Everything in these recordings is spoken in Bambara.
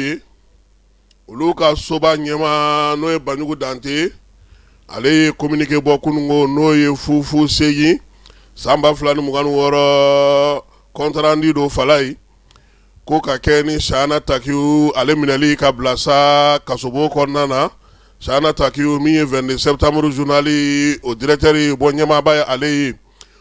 ye olu ka soba ɲɛma n'o ye banjugu dante ale ye kominike bɔ kunungo n'o ye fufu seegin san ba fila ni mugan ni wɔɔrɔ kɔntrandi don fala ye ko ka kɛ ni sahana takiyu ale minɛli k'a bila sa kasobon kɔnɔna na sahana takiyu min ye vingt-deux septembre journali o directeur ye bɔ ɲɛmaaba ye ale ye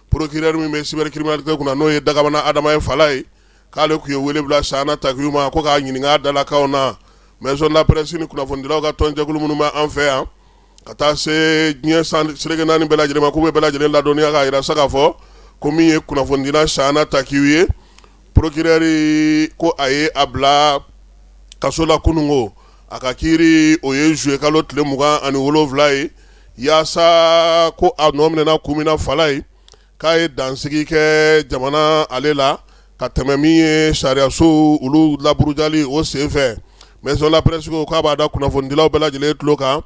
procureur min bɛ cybercriminalité kunna n'o ye dagamana adama ye fala ye k'ale tun ye wele bila sahana takiyu ma ko k'a ɲininka dalakaw na maison de la presse ni kunnafonidilaw ka tɔnjɛkulu minnu bɛ an fɛ yan ka taa se diɲɛ seleke naani bɛɛ lajɛlen ma k'u bɛ bɛɛ lajɛlen ladɔnniya k'a yira sa k'a fɔ ko min ye kunnafonidila sahana takiyu ye procureur ko a ye a bila kaso la kunun ko a ka kiiri o ye juillet kalo tile mugan ani wolonwula ye yaasa ko a nɔ minɛna kun min na fala ye k'a ye dansigi kɛ jamana ale la ka tɛmɛ min ye sariyaso olu laburujali o senfɛ maison de la presse ko k'a b'a da kunnafonidilaw bɛɛ lajɛlen tulo kan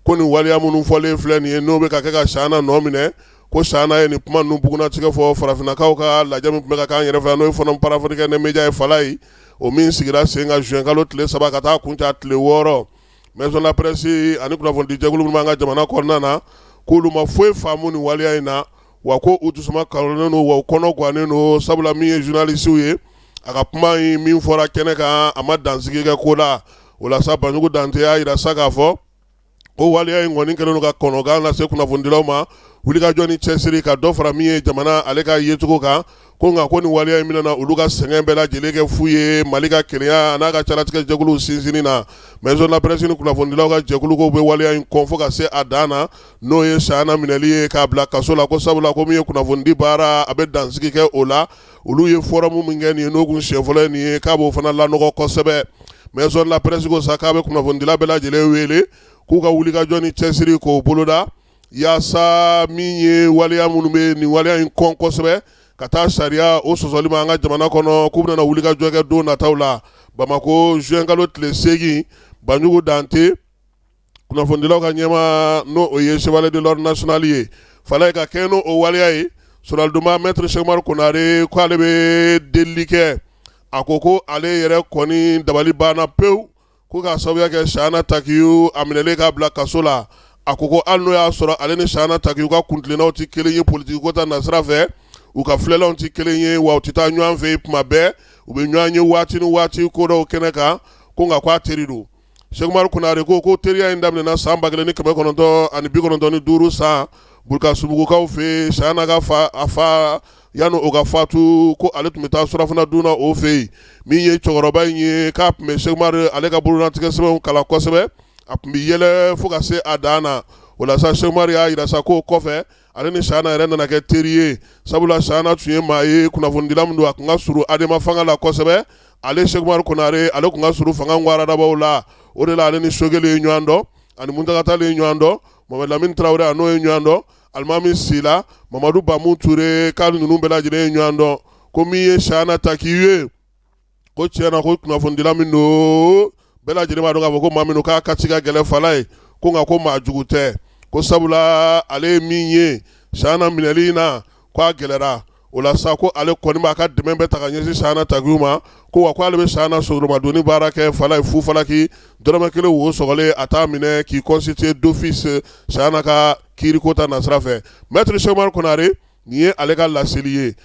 ko nin waliya minnu fɔlen filɛ nin ye n'o bɛ ka kɛ ka sahana nɔ minɛ ko sahana ye nin kuma ninnu bugunnatigɛ fɔ farafinnakaw ka lajɛ min tun bɛ ka k'an yɛrɛ fɛ n'o ye forum panafricain des médias ye fala ye o min sigira sen ka juin kalo tile saba ka taa kuncɛ tile wɔɔrɔ maison de la presse ani kunnafonidijɛkulu minnu b'an ka jamana kɔnɔna na k'olu ma foyi faamu nin waleya in na wa ko u dusuma kalonnen don wa u kɔnɔ gannen don sabula min ye journaliste ye a ka kuma in min fɔra kɛnɛ kan a ma dansigi kɛ ko la o la sa banjugu dante y'a yira sa k'a fɔ ko waleya in kɔni kɛlen don ka kɔnɔgan lase kunnafonidilaw ma wulikajɔ ni cɛsiri ka dɔ fara min ye jamana ale ka yecogo kan ko nka ko nin waleya in min nana olu ka sɛgɛn bɛɛ lajɛlen kɛ fu ye mali ka kelenya n'a ka caratigɛ jɛkulu sinsinni na maison de la presse ni kunnafonidilaw ka jɛkulu k'u bɛ waleya in kɔn fo ka se a dan na n'o ye sahana minɛli ye k'a bila kaso la ko sabula ko min ye kunnafonidi baara a bɛ dansigi kɛ o la olu ye fɔrɔmu min kɛ nin ye n'o kun siɲɛ fɔlɔ ye nin ye k'a b'o fana lanɔgɔ kosɛbɛ maison de la presse ko sa k'a bɛ kunnafonidila bɛɛ lajɛlen wele k'u ka wulikajɔ ni cɛsiri k'o boloda yaasa min ye waliya minnu bɛ nin waliya in kɔn kosɛbɛ ka taa sariya o sɔsɔli ma an ka jamana kɔnɔ k'u bɛna wulikajɔ kɛ don nataw la bamakɔ juin kalo tile seegin banjugu dante kunnafonidilaw ka ɲɛma n'o o ye chevalier de l'ordre national ye fala ye ka kɛ n'o waleya ye soronadonna mɛtiri sɛkumaru konare ko ale bɛ deli kɛ a ko ko ale yɛrɛ kɔni dabali banna pewu Ko k'a sababuya kɛ Sahana Takiyu a minɛlen k'a bila kaso la a ko ko hali n'o y'a sɔrɔ ale ni Sahana Takiyu ka kuntilennaw tɛ kelen ye politique ko ta nasira fɛ, u ka filɛlanw tɛ kelen ye wa u tɛ taa ɲɔan fɛ yen tuma bɛɛ, u bɛ ɲɔan ye waati ni waati ko dɔw kɛnɛ kan, ko nka k'a teri don. Sɛkumaru Konare ko ko teriya in daminɛna san 1995 san Bulkasumbugukaw fɛ yen, Sahana ka fa, a fa Yanni o ka fatu ko ale tun bɛ taa surafana dun o fɛ yen min ye cɛkɔrɔba in ye k'a tun bɛ Sɛki Umaru ale ka bolotigɛ sɛbɛnw kalan kosɛbɛ a tun bɛ yɛlɛ fo ka se a dan na o la sa Sɛki Umaru y'a jira sa ko kɔfɛ ale ni Sahana yɛrɛ nana kɛ teri ye sabula Sahana tun ye maa ye kunnafonidila min don a tun ka surun Adema fanga la kosɛbɛ ale Sɛki Umaru Konare ale tun ka surun fanga waradabaw la o de la ale ni Sogɛli ye ɲɔgɔn dɔn ani Muntaga Tali ye ɲɔgɔn dɔn Mohamɛdi Lamini Tarawele n'o ye ɲɔgɔn dɔn Alimami Sila Mamadu Bamu Ture k'a ninnu bɛɛ lajɛlen ye ɲɔgɔn dɔn ko min ye Sahana Takiyu ye ko tiɲɛna ko kunnafonidila min don bɛɛ lajɛlen b'a dɔn k'a fɔ ko maa min don k'a kati ka gɛlɛn fala ye ko nka ko maa jugu tɛ ko sabula ale ye min ye Sahana minɛli in na ko a gɛlɛra o la sa ko ale kɔni b'a ka dɛmɛ bɛɛ ta ka ɲɛsin Sahana Takiyu ma ko wa ko ale bɛ Sahana soromadonni baara kɛ fala ye fu falaki dɔrɔmɛ kelen wo sɔgɔlen a t'a minɛ k'i constituer d'office Sahana ka kiiriko ta nasira fɛ mɛtiri Sɛki Umaru Konare nin ye ale ka laseli ye